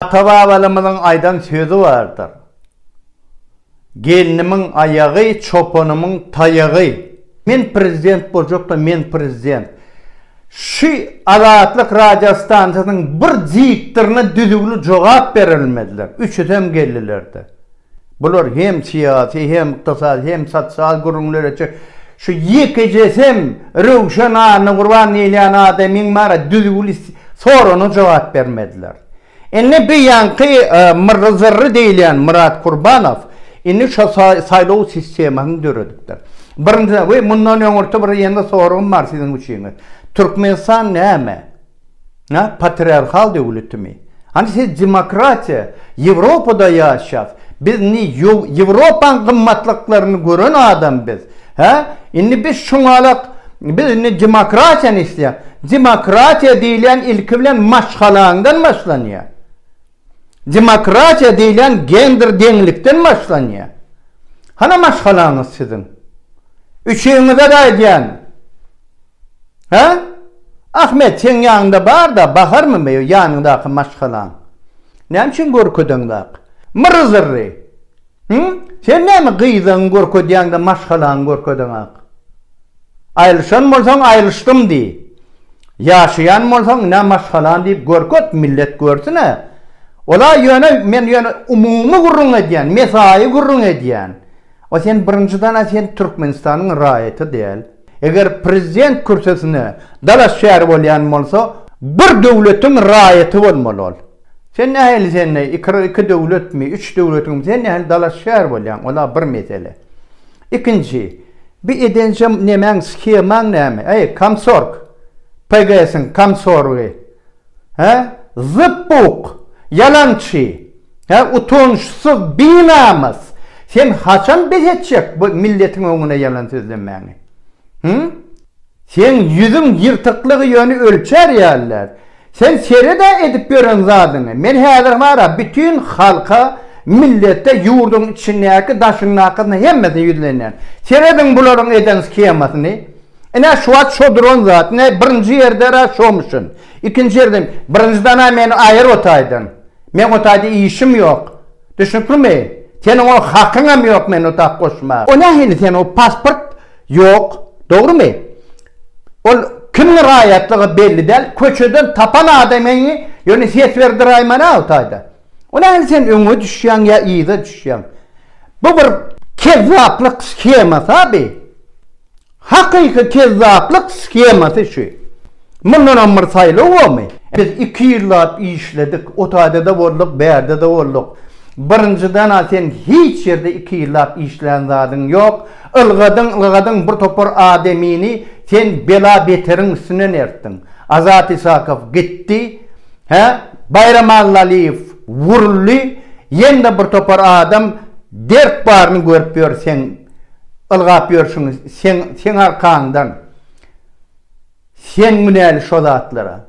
Ata-babalarymyzyň aýdan sözi bardyr, Gelnimiň aýagy, çopanymyň taýagy. Men prezident boljakda men prezident. Şu Azatlyk radio stansiýasynyň bir diktoryna düzüwli jogap berilmediler. Üçüsem geldiler-de. Bular hem syýasy, hem ykdysady, hem sosial gürrüňlere çek. Şu ýekejesem Röwşen Annagurban diýilýän adamyň maňa düzüwli soragna jogap bermediler. Indi bu ýaňky myrry-zyrry diýilýän Myrat Kurbanow indi şo saýlaw sistemasyny döredipdir. Birinjiden we mundan öňürti bir ýene soragym bar siziň üçin. Türkmenistan näme? Hä, patriarhal döwletimi? Hany siz demokratiýa, Ýewropada ýaşas, biz indi Ýewropaň gymmatlyklaryny gören adam biz. Hä, indi biz şuňalak biz indi demokratiýany isleýäs. Demokratiýa diýilýän ilki bilen maşgalaňdan başlanýar. Demokratiýa diýilýän gender deňlikden başlanýar. Hana maşgalaňyz siziň? Üçüňize-de aýdýan. Hä? Ahmet, seň ýanyňda bar-da, Baharmy me o ýanyňdaky maşgalaň? Näme üçin görkedeňzak? Myry-zyry! Hü? Sen näme gyzyňy görkezýäň-de, maşgalaňy görkedeňak? Aýrylyşan bolsaň, aýrylyşdym diý. Ýaşaýan bolsaň, ine maşgalaň diýip görket, millet görsün-ä. Ol-a ýöne, men ýöne umumy gürrüň edýän, mesaýy gürrüň edýän. A sen birinjiden a sen Türkmenistanyň raýaty däl. Eger prezident kürsüsine dalaşgär bolýan bolsa bir döwletiň raýaty bolmaly ol. Sen nähili sende iki iki döwletmi üç döwletiňmi sen nähili dalaşgär bolýaň ola bir mesele. Ikinji bi edenjem nemäň shemaň näme äý komsorg PGSiň komsorgy. Hä? Zypbuk! Ýalançy! Hä, utançsyz, binamys! Sen haçan bes etjek bu milletiň öňüne ýalan sözlemäňi? Hü? Seň ýüzüň ýyrtyklygy ýöne ölçer ýalylar. Sen sered-ä edip ýören zadyňy. Men häzir bar-a bütin halka, millete, ýurduň içindäki, daşyndakysyna hemmesine ýüzlenýän. Serediň bularyň eden skemasyny. Ine şu wagt şo duran zat, ine birinji ýerde-ra şomuşyn. Ikinji ýerde, birinjiden-ä meni aýyr otaýdan. Meň o taýda işim ýok. Düşnüklimi? Seniň o hakyňam ýok meni o tak goşmaga. O nähili seniň o pasport ýok, dogrymy? Ol kimiň raýatlygy belli däl, köçeden tapan adamyňy ýöne ses berdiräýmän-ä o taýda. O nähili sen öňe düşýäň ýa yza düşýäň? Bu bir kezzaplyk shemasy-a bi. Hakyky kezzaplyk skemasy şu. Mundanam bir saýlaw bormy? Biz iki ýyllap işledik, o taýda-da bolduk, bärde-de bolduk. Birinjiden-ä sen hiç ýerde iki ýyllap işlän zadyň ýok. Ylgadyň, ylgadyň bir topar adamyny sen bela-beteriň üstüne nertdiň. Azat Isakow gitdi, hä? Baýram Allalyýew wuruldy, ýene-de bir topar adam dert baryny görüp ýör, sen ylgap ýörşüň seň seň arkaňdan sen günäli şo zatlara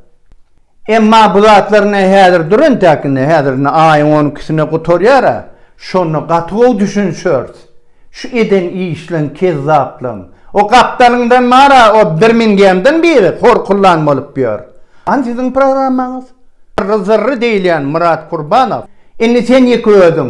emma bu zatlar ine häzir dur entäk indi häzir indi aýyň on ikisine gutarýara şonda gaty gowy düşünişeris şu eden işleň kezzaplyň o gapdalyňdan bara o birmingemden biri hor kullan bolup ýör an siziň programmaňyz zyrry zyrry diýilýän myrat kurbanow indi sen ýeke özüň.